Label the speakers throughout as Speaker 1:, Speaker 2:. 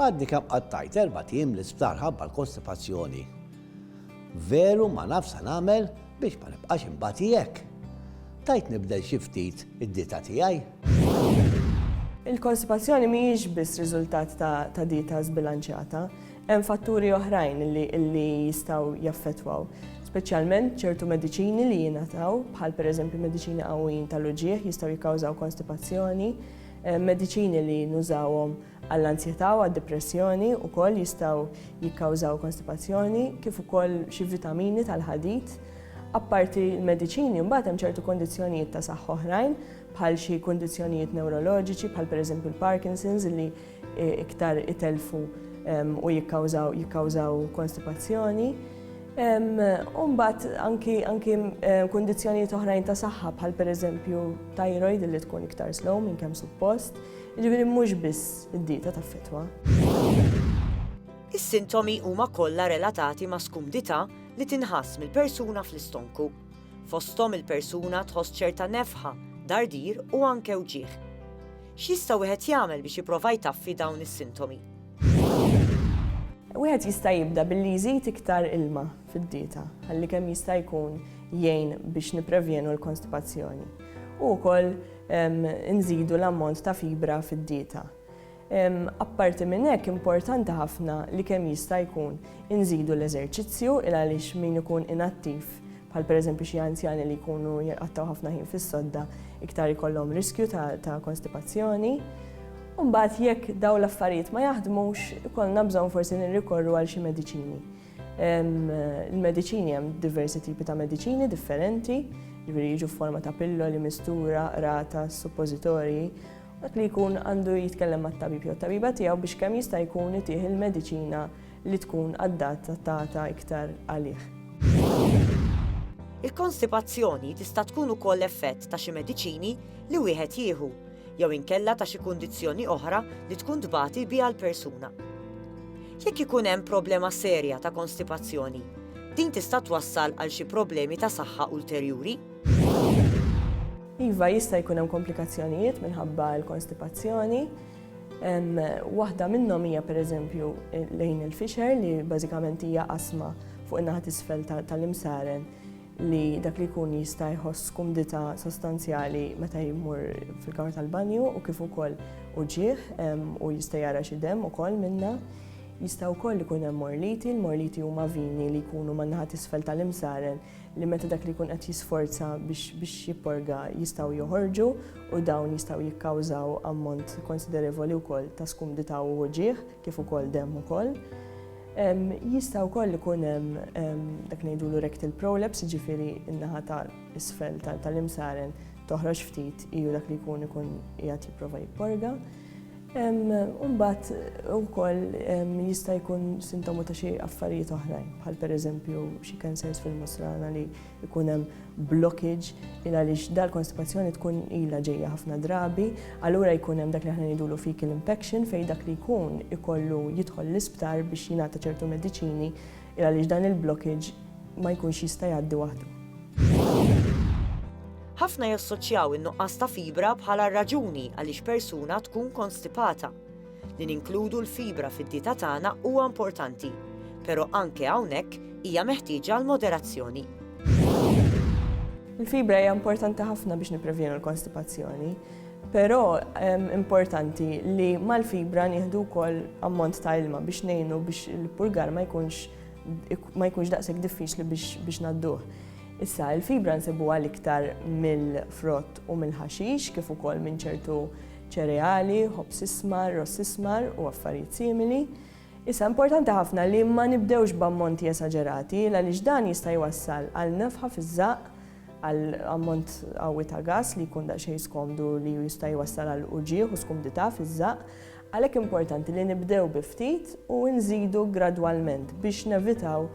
Speaker 1: Għadni kemm qattajt erbat ijiem l-isptar ħabba l-kostipazzjoni. Veru ma naf sa nagħmel biex ma nibqax inbati hekk. Tajt nibdel xi ftit id-dieta tiegħi? Il-kostipazzjoni mhijiex biss riżultat ta' dieta żbilanċjata. Hemm fatturi oħrajn li jistgħu jaffettwaw. Speċjalment ċertu mediċini li jingħataw, bħal pereżempju mediċini qawwijin tal-uġigħ jistgħu jikkawżaw kostipazzjoni. Mediċini li nużawhom għall-anzjetà u għad-dipressjoni wkoll jistgħu jikkawżaw kostipazzjoni kif ukoll xi vitamini tal-ħadid. Apparti l-mediċini mbagħad hemm ċertu kondizzjonijiet ta' saħħa oħrajn bħal xi kundizzjonijiet newroloġiċi bħal pereżempju l-Parkinson's li iktar itelfu u jikkawżaw jikkawżaw konstipazzjoni. U mbagħad anki anki kundizzjonijiet oħrajn ta' saħħa bħal pereżempju thyroid li tkun iktar slow minn kemm suppost, jiġifieri mhux biss id-dieta taffettwa. Is-sintomi huma kollha relatati ma' skumdità li tinħass mill-persuna fl-istonku. Fosthom il-persuna tħoss ċerta nefħa, dardir u anke wġigħ. X'jista' wieħed jagħmel biex jipprova jtaffi dawn is-sintomi? Wieħed jista' jibda billi jżid iktar ilma fid-dieta ħalli kemm jista' jkun jgħin biex nipprevjenu l-konstipazzjoni. U wkoll nżidu l-ammont ta' fibra fid-dieta. Apparti minn hekk importanti ħafna li kemm jista' jkun inżidu l-eżerċizzju il għaliex min ikun inattiv bħal pereżempju xi anzjani li jkunu jqattgħu ħafna ħin fis-sodda iktar ikollhom riskju ta' konstipazzjoni. Mbagħad jekk dawn l-affarijiet ma jaħdmux, ikollna bżonn forsi nirrikorru għal xi mediċini. Il-mediċini hemm diversi tipi ta' mediċini differenti, jiġifieri jiġu f'forma ta' pilloli, mistura, rata, suppożitorji, dak li jkun għandu jitkellem mat-tabib jew tabiba tiegħu biex kemm jista' jkun itih il-mediċina li tkun addattata iktar għalih. Il-konstipazzjoni tista' tkun ukoll effett ta' xi mediċini li wieħed jieħu jew inkella ta' xi kundizzjoni oħra li tkun tbati biha l-persuna. Jekk ikun hemm problema serja ta' konstipazzjoni, din tista' twassal għal xi problemi ta' saħħa ulterjuri. Iva, jista' jkun hemm komplikazzjonijiet minħabba l-konstipazzjoni. Waħda minnhom hija pereżempju lejn il-fixer li bażikament hija qasma fuq in-naħa t'isfel tal-imsaren li dak li jkun jista' jħoss kumdità sostanzjali meta jmur fil-kamra tal-banju u kif ukoll uġigħ u jista' jara xi demm ukoll minnha. Jista' wkoll ikun hemm morliti, l-morliti huma vini li jkunu man-naħa t'isfel tal-imsaren li meta dak li jkun qed jisforza biex jipporga jistgħu joħorġu u dawn jistgħu jikkawżaw ammont konsiderevoli wkoll ta' skumdità u uġigħ kif ukoll demm ukoll. Jista' wkoll ikun hemm dak ngħidulu rectal prolapse, jiġifieri n-naħa ta' isfel tal-imsaren toħroġ ftit iju dak li jkun ikun qiegħed jipprova jipporga. Imbagħad ukoll jista' jkun sintomu ta' xi affarijiet oħrajn, bħal pereżempju xi cancers fil-musrana li jkun hemm blockage il għaliex dal-konstipazzjoni tkun ilha ġejja ħafna drabi, allura jkun hemm dak li aħna ngħidulu fecal impaction fejn dak li jkun ikollu jidħol l-isptar biex jingħata ċertu mediċini Il għaliex dan il-blockage ma jkunx jista' jgħaddi waħdu. Ħafna jassoċjaw in-nuqqas ta' fibra bħala r-raġuni għaliex persuna tkun konstipata. Li ninkludu l-fibra fid-dieta tagħna huwa importanti, però anke hawnhekk hija meħtieġa għal moderazzjoni. Il-fibra hija importanti ħafna biex nipprevjenu l-konstipazzjoni. Però importanti li mal-fibra nieħdu wkoll ammont ta' ilma biex ngħinu biex il-purgar ma jkunx ma jkunx daqshekk diffiċli biex nadduh. Issa, il-fibra nsibuha l-iktar mill-frott u mill-ħaxix kif ukoll minn ċertu ċereali, ħobż ismar, ross ismar u affarijiet simili. Issa importanti ħafna li ma nibdewx b'ammonti esaġerati għaliex dan jista' jwassal għal nefħa fiż-żaqq għal ammont qawwi ta' gass li jkun daqsxejn skomdu li jista' jwassal għal uġigħ u skumdità fiż-żaqq, għalhekk importanti li nibdew bi ftit u nżidu gradwalment biex nevitaw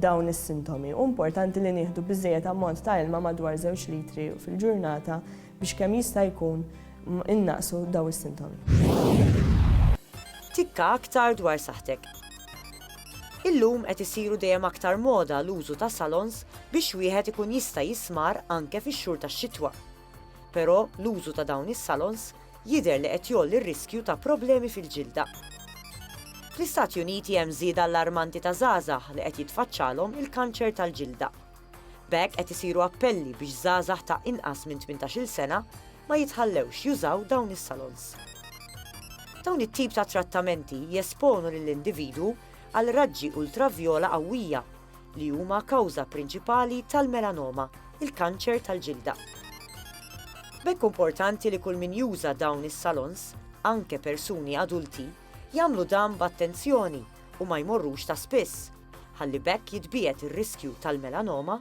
Speaker 1: dawn is-sintomi. Hu importanti li nieħdu biżżejjed ammont ta' ilma madwar żewġ litri fil-ġurnata biex kemm jista' jkun innaqqsu dawn is-sintomi. Tikka aktar dwar saħħtek. Illum qed isiru dejjem aktar moda l-użu ta' salons biex wieħed ikun jista' jismar anke fix-xhur tax-xitwa. Però l-użu ta' dawn is-salons jidher li qed jgħolli r-riskju ta' problemi fil-ġilda. Fl-Istati Uniti hemm żieda allarmanti ta' żgħażagħ li qed jitfaċċalhom il-kanċer tal-ġilda. B'hekk qed isiru appelli biex żgħażagħ ta' inqas minn tmintax-il sena ma jitħallewx jużaw dawn is-salons. Dawn it-tip ta' trattamenti jesponu lill-individwu għal raġġi ultravjola qawwija, li huma kawża prinċipali tal-melanoma, il-kanċer tal-ġilda. B'hekk importanti li kull min juża dawn is-salons, anke persuni adulti, jagħmlu dan b'attenzjoni u ma jmorrux ta' spiss, ħalli b'hekk jitbiegħed ir-riskju tal-melanoma